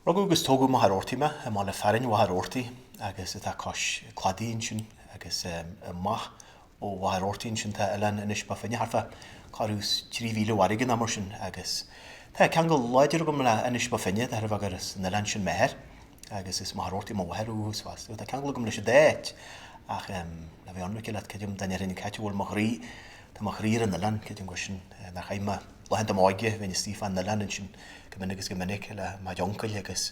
Rugadh agus tógadh i Machaire Rabhartaigh mé, i mbaile fearainn Mhachaire Rabhartaigh áit atá cois cladaigh ansin agus amach ó Mhachaire Rabhartaigh ansin tá oileán Inis Bó Finne thart fá tuairim is trí mhíle farraige nó mar sin agus tá ceangal láidir agam le Inis Bó Finne de thairbhe gur as an oileán sin m'athair agus as Machaire Rabhartaigh mo mháthair ó thús fosta. Tá ceangal agam leis an dá áit ach a bheith ionraice leat creidim dá ndéarfainn cá háit a bhfuil mo chroí tá mo chroí ar an oileán, creidim gur sin, nach ionadh, laethanta m'óige bheinn istigh fán oileán ansin. go minic agus go minic le m'uncail agus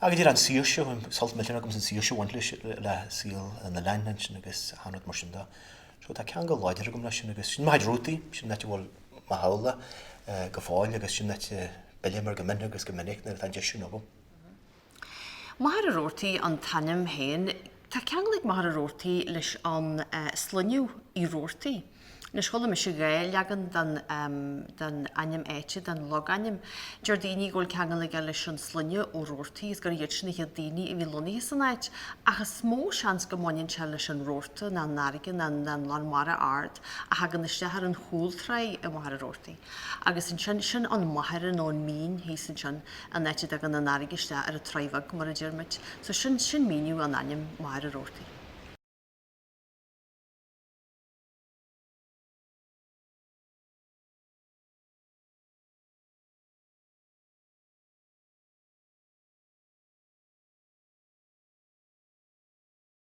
a ghabháil d'iarraidh an saoirse, bhí sult millteanach agam san saoirse a bhain leis, le saol an oileáin ansin agus achan rud mar sin de. So tá ceangal láidir agam leis sin agus sin mo chuid rútaí, sin an áit a bhfuil mo theaghlach go fóill agus sin an áit a bpillim air go mion agus go minic nuair atá an deis sin agam. Machaire Rabhartaigh an t-ainm féin. Tá ceangal ag Machaire Rabhartaigh leis an sloinneadh Uí Rabhartaigh. Anois, chuala mise dhá leagan den ainm áite, den logainm. Deir daoine go bhfuil ceangal aige leis an sloinneadh Ó Rabhartaigh agus gurb iad sin na chéad daoine a bhí lonnaithe san áit, ach is mó seans go mbaineann sé leis an rabharta, nó an fharraige, nó an lán mara ard, a thagann isteach ar an chúltráigh i Machaire Rabhartaigh. Agus ansin, sin an machaire nó an mín thíos ansin, an áit a dtagann an fharraige isteach ar an Tráigh Bheag, mar a deir muid. So sin, sin míniú ar an ainm Machaire Rabhartaigh.